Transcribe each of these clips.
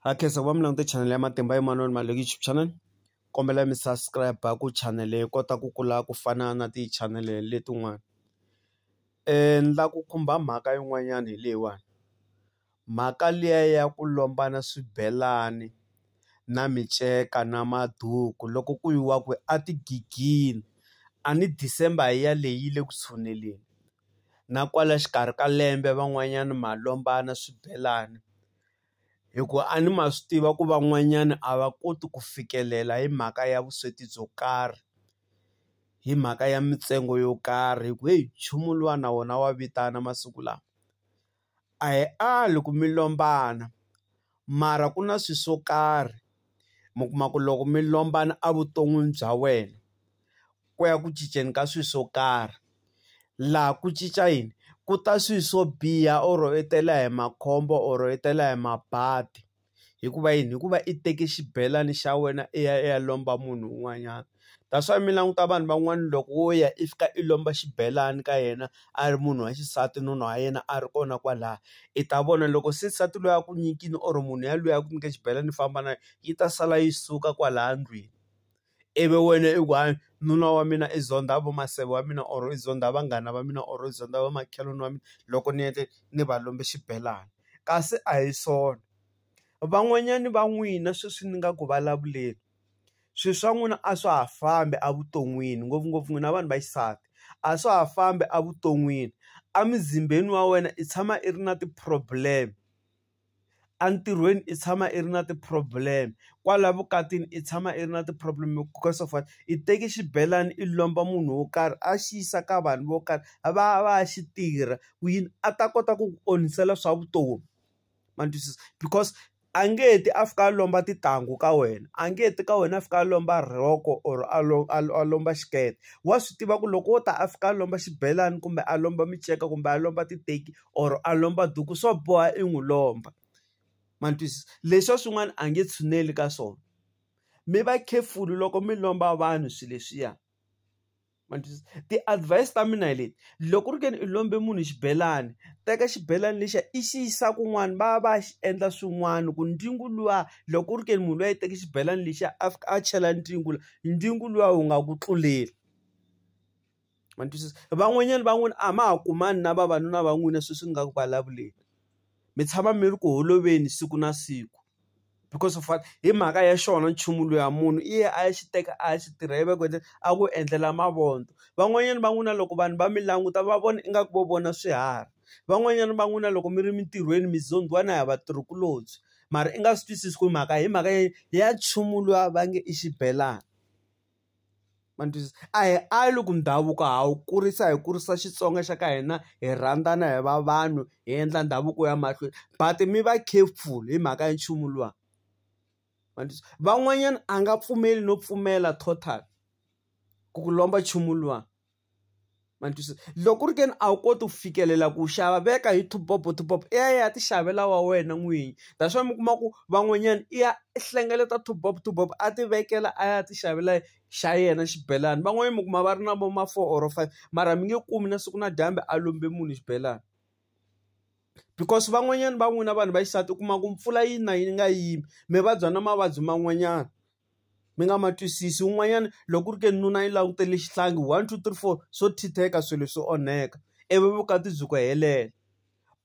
ha khensa ku va mi langute chanele ya matimba emanoni ma YouTube channel kombela mi subscribe ku chanele yi kota ku kula ku fana na ti chanele letin'wana ni la ku khumba mhaka yin'wanyana hi leyiwani mhaka liya ya ku lombana swibelani na miceka na maduku loko ku yiwa kwihi a tigigeni a ni December hi yaleyo yi le ku tshuneleni. na kwala xikarhi ka lembe van'wanyana ma lombana swibelani hi ku a ni ma swi tiva ku van'wanyana a va koti ku fikelela hi mhaka ya vusweti byo karhi hi mhaka ya mintsengo yo karhi hi ku heyi nchumu luwa na wona wa vitana masiku lawa. A hi ali ku mi lombana mara ku na swi swo karhi mi kuma ku loko mi lombana a vuton'wini bya wena ku ya ku cinceni ka swi swo karhi laha ku cinca yini ku ta swi swo biha or i tela hi makhombo or i tela hi mabadi. Hikuva yini? Hikuva i teke xibelani xa wena i ya i ya lomba munhu un'wanyana. That's why mi languta vanhu van'wani loko wo ya i fika i lomba xibelani ka yena a ri munhu wa xisati nuna wa yena a ri kona kwalaya, i ta vona loko se nsati loyi a ku nyikile or munhu yaloye a ku nyike xibelani i famba na yona, yi ta sala yi suka kwalaya ndlwini. ivi wena i ku hayi nuna wa mina i zonda vo maseve wa mina or i zonda vanghana va mina or i zonda va makhelwani wa mina loko ni endle ni va lombe xibelani kasi a hi swona van'wanyani va n'wina sweswi ni nga ku vulavuleni swi swa n'wina a swa ha fambi evuton'wini ngopfungopfu n'wina vanhu va xisati a swa ha fambi evuton'wini emizimbeni wa wena i tshama i ri na ti-problem. entirhweni i tshama i ri na ti-problem kwala vukatini i tshama i ri na ti-problem because of what i teki xibelani i lomba munhu wo karhi a xi yisa ka vanhu vo karhi a va ya va ya xi tirha ku yini a ta kota ku ku onhisela swa vutomi ma ni twisisa because a nge ti a fika a lomba tintangu ka wena a nge ti ka wena a fika a lomba rhoko or a a lomba xikete wa swi tiva ku loko wo ta a fika a lomba xibelani kumbe a lomba minceka kumbe a lomba titeki or a lomba duku swo boha i n'wi lomba ma ni twisisa leswa swin'wana a nge tshuneli ka swona mi va careful loko mi lomba vanhu swilo leswiya ma ni twisisa ti-advise ta mina hi leti loko ku ri ke ni u lombe munhu xibelani teka xibelani lexiya i xi yisa kun'wana va ya va ya xi endla swin'wana ku ntlingu luwa loko ku ri ke ni munhu luya i teke xibelani lexiya a fika a chela ntlingu la ntlingu luwa wu nga ku tluleli. ma ni twisisa van'wanyana va n'wina a ma ha kumani na vavanuna va n'wina sweswi ni nga ku vulavuleni mi tshama mi ri ku holoveni siku na siku because of what hi mhaka ya xona nchumu luya munhu i ya a ya xi teka a ya xi tirha ivi a ku endla a ku endlela mavondzo van'wanyana va n'wina loko vanhu va mi languta va vona ingaku vo vona swiharhi van'wanyana va n'wina loko mi ri mintirhweni mi zondhiwa na hi vatirhikulobye mara i nga swi twisisi ku mhaka hi mhaka ya nchumu luya va nge i xibelani. ma ni twisisa a hi ali ku ndhavuko ha wu kurisa hi kurisa Xitsonga xa ka hina hi rhandzana hi va vanhu hi endla ndhavuko wu ya mahlweni but mi va careful hi mhaka ya nchumu luwa ma ni van'wanyana a nga pfumeli no pfumela total ku ku lomba nchumu luwa. ma ni twisisa loko ku ri ke ni a wu koti ku fikelela ku xava veka hi top up top up i ya i ya ti xavela wa wena n'winyi that's why mi kuma ku van'wanyana i ya i hlengeleta top up top up a ti vekela a ya ti xavela xa yena xibelani van'wanyana mi kuma va ri na vo ma four or five mara mi nge kumi na siku na dyambe a lombe munhu xibelani because van'wanyana va n'wina vanhu va xisati u kuma ku mpfula yi na yi nga yimi mi vabya na mavabyi man'wanyana mi nga ma twisisi un'wanyana loko ku ri ke nuna yi langutele xihlangi one two three four swo thitheka swilo swi onheka ivi vukati byi ku helela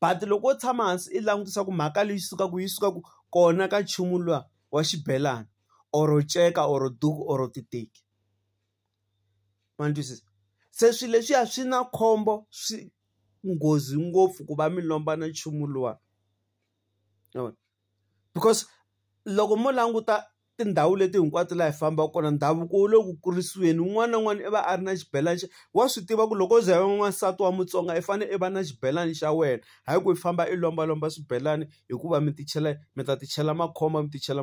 but loko wo tshama hansi i langutisa ku mhaka leyi sukaka yi sukaka kona ka nchumu luwa wa xibelani or nceka or duku or titeki ma ni twisisa se swilo leswiya swi na khombo swi nghozi ngopfu ku va mi lombana nchumu luwa. because loko mo languta tindhawu leti hinkwato laha hi fambaka kona ndhavuko wu le ku kurisiweni un'wana na un'wana i va a ri na xibelani xa wa swi tiva ku loko u ze u va n'wansati wa Mutsonga i fanele i va na xibelani xa wena hayi ku i famba i lombalomba swibelani hikuva mi ti chela mi ta ti chela makhombo mi ti chela .